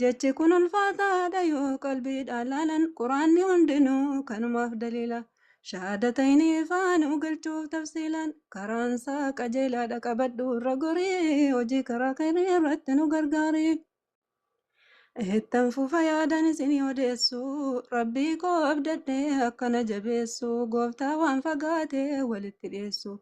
Jechi kun ulfaataadha yoo qalbiidhaan laalan quraanni hundinuu kanumaaf daliila. Shahaadataynii faa nu galchuuf tafsiilaan karaan isaa qajeelaadha qabadhu irra gorii hojii karaa khayrii irratti nu gargaari. Ittan fufa yaadan isinii odeessu rabbii koo abdadhee akkana jabeessu gooftaa waan fagaatee walitti dhiyeessu.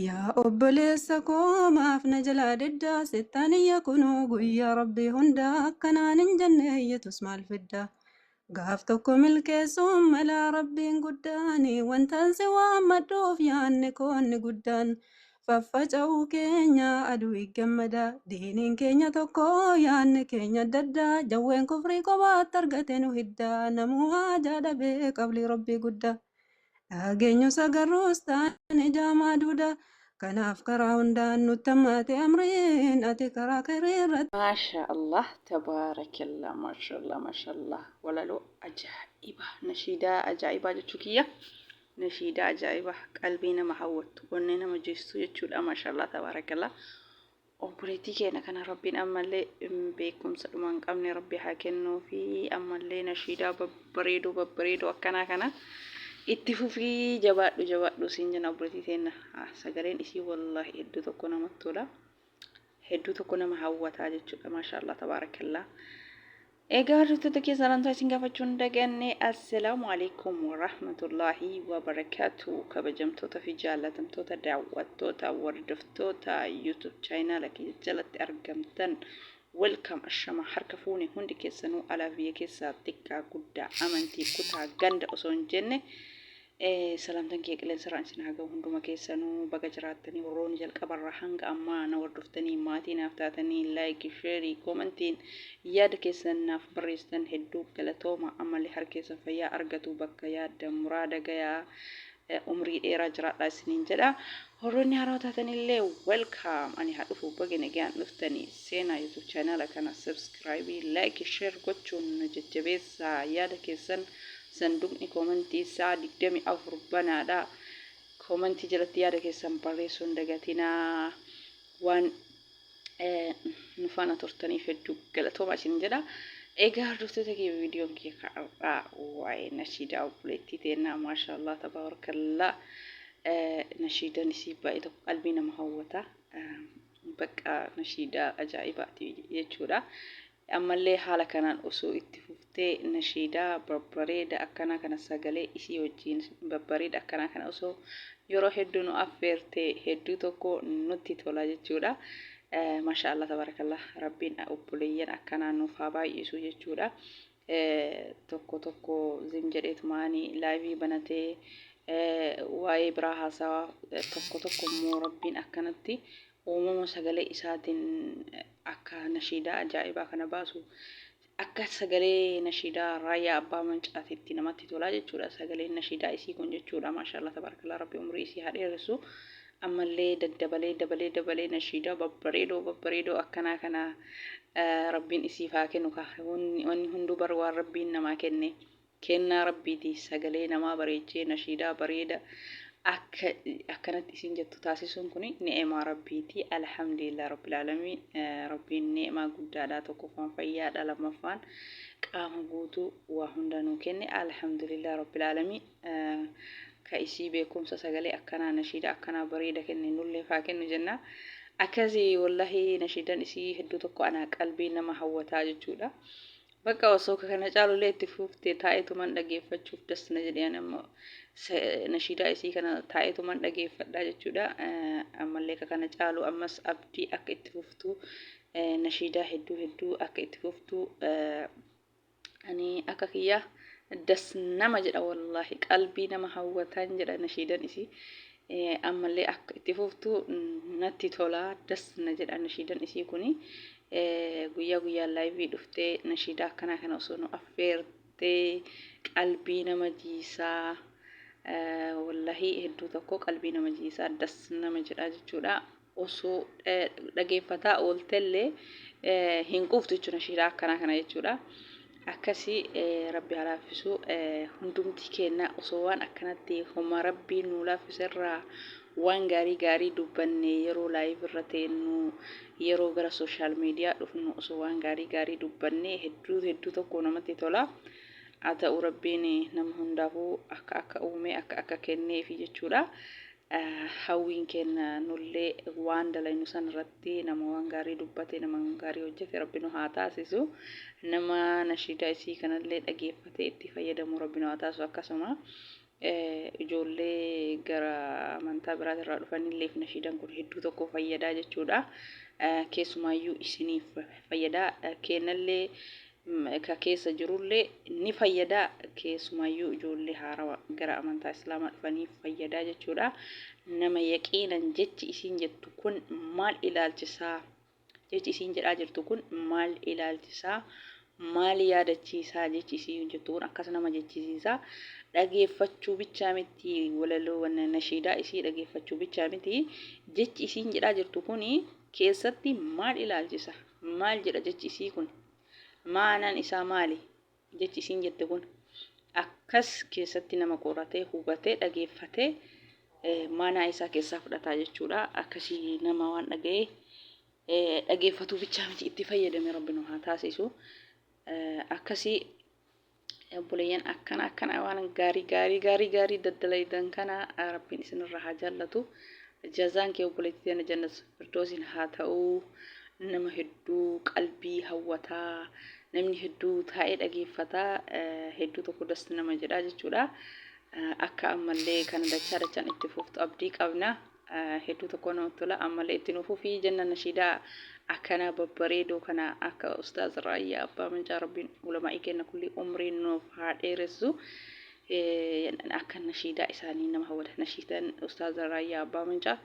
Yaa obboleessa koo maaf na jalaa didda sittaan iyya kunuu guyyaa rabbii hunda akkanaan hin jenne iyyatus maal fidda gaaf tokko milkeessuun malaa rabbiin guddaan wantaan si waammadhuuf yaanni koonni guddaan faffaca'uu keenya aduu gammadaa diiniin keenya tokko yaanni keenya adda addaa jawween kufrii kophaatti argate nu hiddaa namuu haajaa dhabee qablii rabbii guddaa. Dhageenyusa garruus taane jaamaa duuda. Kanaaf karaa hundaan nutti hammaate amriin ati karaa khayrii irratti. Maashaa Allah tabaarakallaa maashallaa maashallaa walaloo ajaa'iba nashiidaa ajaa'ibaa jechuu kiyya nashiidaa ajaa'iba qalbii nama hawwattu onnee nama jiistuu jechuudha maashallaa tabaarakallaa Obboleettii keenya kana Rabbiin ammallee beekumsa dhuma hin qabne Rabbi haa kennuufi ammallee nashiidaa babbareedoo babbareedoo akkanaa kana itti fufii jabaadhu jabaadhu siin jenna obboleettii teenna sagaleen isii wallaahi hedduu tokko namatti tola hedduu tokko nama hawwataa jechuudha maashaallah tabaarakallaa Egaa hordoftoota kee salaamtaa isin gaafachuu hin daganne assalaamu alaikum warahmatullaahi wabarakaatu kabajamtoota fi jaallatamtoota daawwattoota hordoftoota yuutuub chaayinaala kiyya jalatti argamtan welkaam ashama harka fuune hundi keessanuu alaa biyya keessaa xiqqaa guddaa amantii kutaa ganda osoo hin jenne Salaamtan kiyya qilensarraan isin haa gahu hunduma keessanu baga jiraattanii warroonni jalqabarraa hanga ammaa na hordoftanii maatii naaf taatanii like share commentiin yaada keessan naaf barreessitan hedduu galatooma ammallee harki keessan fayyaa argatu bakka yaaddan muraada gayaa umrii dheeraa jiraadhaa isiniin jedha warroonni haaraa taatanillee welcome ani haa dhufu baga nagaan dhuftanii seenaa youtube channel kana subscribe like share gochuun nu jajjabeessaa yaada keessan Sanduuqni koomantii isaa 24 banaadha. Koomantii jalatti yaada keessan barreessuu hin dagatinaa. Waan nu faana turtaniif hedduu galatoomaa isin jedha. Egaa hordoftoota kee viidiyoon kee har'aa waa'ee nashiidaa obboleettii teennaa maashaallah tabaarakallaa nashiidan isii baay'ee tokko qalbii nama hawwata. Bakka nashiidaa ajaa'ibaati jechuudha. Ammallee haala kanaan osoo itti fuftee nashiidaa babbareeda akkanaa kana sagalee isii wajjiin babbareeda akkanaa kana osoo yeroo hedduu nu affeerte hedduu tokko nutti tola jechuudha. Masha Allah tabarakallah rabbiin obboleeyyan akkanaa nuuf haa baay'isu jechuudha. Tokko tokko zim jedheetumaani laayivii banatee waa'ee biraa haasawaa tokko tokko immoo rabbiin akkanatti uumama sagalee isaatiin akka nashiidaa ajaa'ibaa kana baasu akka sagalee nashiidaa raayyaa abbaa mancaatitti namatti tolaa jechuudha sagaleen nashiidaa isii kun jechuudha maashaallah tabaarakallaa rabbi umrii isii haa dheeressu ammallee daddabalee dabalee dabalee nashiidaa babbareedoo babbareedoo akkanaa kana rabbiin isiif haa kennu wanni hunduu bar waan rabbiin namaa kenne Kennaa Rabbiiti sagalee namaa bareechee nashiidaa bareeda akka akkanatti isiin jettu taasisuun kuni ni'imaa Rabbiiti. Alhamdulillah Rabbil Aalamiin Rabbiin ni'imaa guddaadha. Tokkoffaan fayyaadha, lammaffaan qaama guutuu waa hunda nuu kenne. Alhamdulillah Rabbil Aalamiin ka isii beekumsa sagalee akkanaa nashiidaa akkanaa bareeda kenne nullee faa kennu jenna. Akkasi wallahi nashiidan isii hedduu tokko anaa qalbii nama hawwataa jechuudha. Baqa osoo ka kana caalu illee itti fuuftee taa'eetuman dhageeffachuuf das na jedhe ani ammoo nashiidaa isii kana taa'eetuman dhageeffadhaa jechuudha ammallee ka kana caalu ammas abdii akka itti fuftuu nashiidaa hedduu hedduu akka itti fuftuu ani akka kiyyaa das nama jedha wallaahi qalbii nama hawwataan jedha nashiidan isii Ammallee akka itti fuftu natti tola das na jedha nashiidan isii kuni guyyaa guyyaan laayivii dhuftee nashiidaa akkanaa kana osoo nu affeertee qalbii nama jiisaa wallahii hedduu tokko qalbii nama jiisaa das nama jedhaa jechuudha. osoo dhageeffataa ooltellee hin quuftu jechuudha nashiidaa akkanaa kana jechuudha. Akkasii rabbi haa laaffisu hundumti keenna osoo waan akkanatti homa rabbiin nuu laaffiserraa waan gaarii gaarii dubbanne yeroo laayiv irra teennu yeroo gara sooshaal miidiyaa dhufnu osoo waan gaarii gaarii dubbanne hedduu hedduu tokko namatti tola. Haa ta'u rabbiin nama hundaafuu akka akka uume akka akka kenneefi jechuudha. Hawwiin keenna nullee waan dalaynu san irratti nama waan gaarii dubbate, nama waan gaarii hojjate Rabbi nu haa taasisu. Nama nashiidaa isii kanallee dhageeffatee itti fayyadamu Rabbi nu haa taasisu. Akkasuma ijoollee gara amantaa biraati irraa dhufanilleef nashiidaan kun hedduu tokko fayyadaa jechuudha. Keessumaayyuu isiniif fayyadaa. Keennallee ka keessa jirullee ni fayyada keessumaayyuu ijoollee haarawa gara amantaa islaamaa dhufaniif fayyadaa jechuudha nama yaqiinan jechi isiin jettu kun maal ilaalchisaa jechi isiin jedhaa jirtu kun maal ilaalchisaa maal yaadachiisaa jechi isiin jettu kun akkas nama jechisiisaa dhageeffachuu bichaa miti walaloo nashiidaa isii dhageeffachuu bichaa miti jechi isiin jedhaa jirtu kun keessatti maal ilaalchisa? Maal jedha jechi isii kun? Ma'anaan isaa maali? Jechi isiin jette kun akkas keessatti nama qoratee, hubatee, dhageeffatee maanaa isaa keessaa fudhataa jechuudha. Akkasii nama waan dhaga'ee dhageeffatuu bichaa miti itti fayyadame rabbi nu haa taasisu. Akkasii Obboleeyyan akkana akkana waan gaarii gaarii gaarii gaarii daddalaydan kana rabbiin isinirraa haa jaallatu. Jazaan kee obboleettii teena jannat firdoosiin haa ta'u. Nama hedduu qalbii hawwataa namni hedduu taa'ee dhageeffata hedduu tokko das nama jedhaa jechuudha. Akka ammallee kana dachaa dachaan itti fuftu abdii qabna. hedduu tokko namatti tola ammallee itti nu fufii jenna nashiidaa akkanaa babbareedoo kana akka ustaaz raayyaa abbaa mancaa rabbiin ulamaa'ii kenna kulli umrii nuuf haa dheeressu akka nashiidaa isaanii nama hawwata nashiidan ustaaz raayyaa abbaa mancaa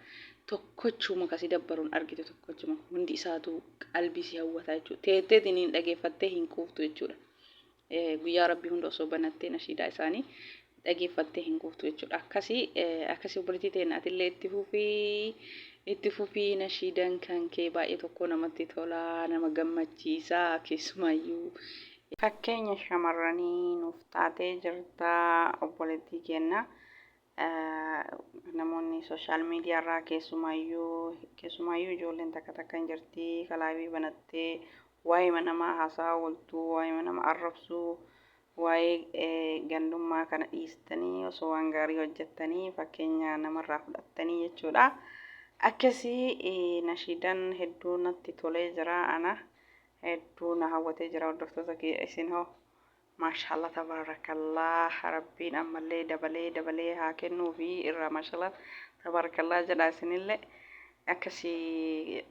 tokkochuma kasi dabbaruun argite tokkochuma hundi isaatu qalbii si hawwata jechuudha teetteetiin hin dhageeffattee hin quuftu jechuudha Guyyaa Rabbii hunda osoo banattee nashiidaa isaanii dhageeffattee hin quuftu jechuudha. Akkasii akkasii obboleettii ta'een atillee itti fufii itti fufii nashiidan kan kee baay'ee tokko namatti tolaa nama gammachiisaa keessumaayyuu fakkeenya shamarranii nuuf taatee jirta obboleettii keenna. namoonni sooshaal miidiyaa irraa keessumaayyuu keessumaayyuu ijoolleen takka takka hin jirti kalaabii banattee waa'ee namaa haasaa ooltuu waa'ee nama arrabsuu waa'ee gandummaa kana dhiistanii osoo waan gaarii hojjettanii fakkeenya namarraa fudhattanii jechuudha. Akkasii nashiidan hedduu natti tolee jira ana hedduu na hawwatee jira hordoftoota kiyya isin hoo Maashaalla tabaarakallaah rabbiin ammallee dabalee dabalee haa kennuufi irraa maashaalla tabaarakallaah jedhaa isinillee akkasii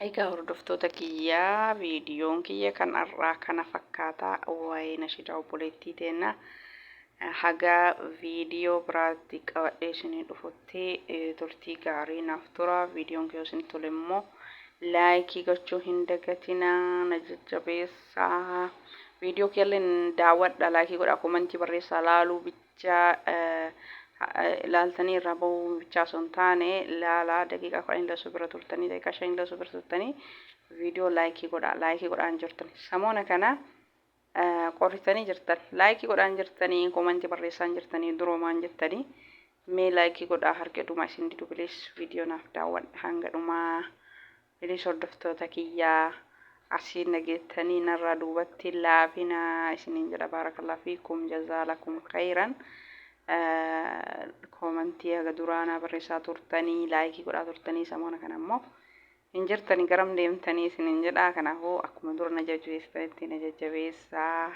Egaa hordoftoota kiyyaa viidiyoon kiyya kan har'aa kana fakkaataa waa'ee nashidaa obboleettii teenna hagaa viidiyoo biraatti qabadhee isinii dhufutti turtii gaarii naaf tura viidiyoon kiyya isin tole immoo laayikii gochuu hin dagatinaa na jajjabeessa. Sa'a viidiyoo keelleen daawwadha laakii godha komantii barreessaa laaluu bicha laaltanii irraa bahuu bichaa osoo hin taane laalaa daqiiqaa kudhan hin lasuu bira turtanii daqiiqaa shan hin lasuu bira turtanii viidiyoo laayikii godha laayikii godhaan jirtan samoona kana qorritanii jirtan laayikii godhaan jirtanii komantii barreessaan jirtanii duroomaan jettanii mee laayikii godhaa harka dhumaa isin didu bilees viidiyoo naaf daawwadha hanga dhumaa. Please hordoftoota kiyya asiin dhageettanii narraa duubatti laafina isiniin jedha baarakallah fiikum jazaa lakum khayran koomantii haga duraa naa barreessaa turtanii laayikii godhaa turtanii samoona kana immoo hin jirtanii garam deemtanii isiniin jedha kanaafuu akkuma dura na jajjabeessitanitti na jajjabeessaa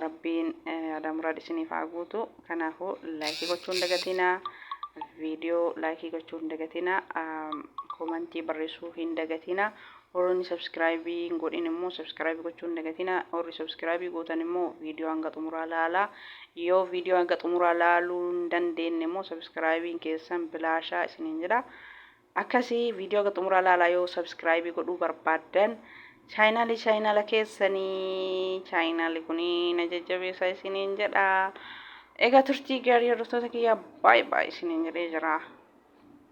Rabbiin yaada muraad isiniif haa guutu. Kanaafuu laayikii gochuu hin dagatinaa. Viidiyoo laayikii gochuu hin dagatinaa. Komantii barreessuu hin dagatinaa. Warroonni sabskiraayibii hin godhin immoo sabskiraayibii gochuu hin dagatinaa. Warri sabskiraayibii gootan immoo viidiyoo hanga xumuraa laalaa. Yoo viidiyoo hanga xumuraa laaluu hin dandeenye immoo sabskiraayibiin keessan bilaashaa isiniin jedha. Akkasi video haga xumuraa laalaa yoo subscribe godhuu barbaaddan chaayinaalii chaayinaala keessanii chaayinaali kunii na jajjabeessaa isiniin jedha. Egaa turtii gaarii hordoftoota kiyyaa baay'ee baay'ee isiniin jedhee jira.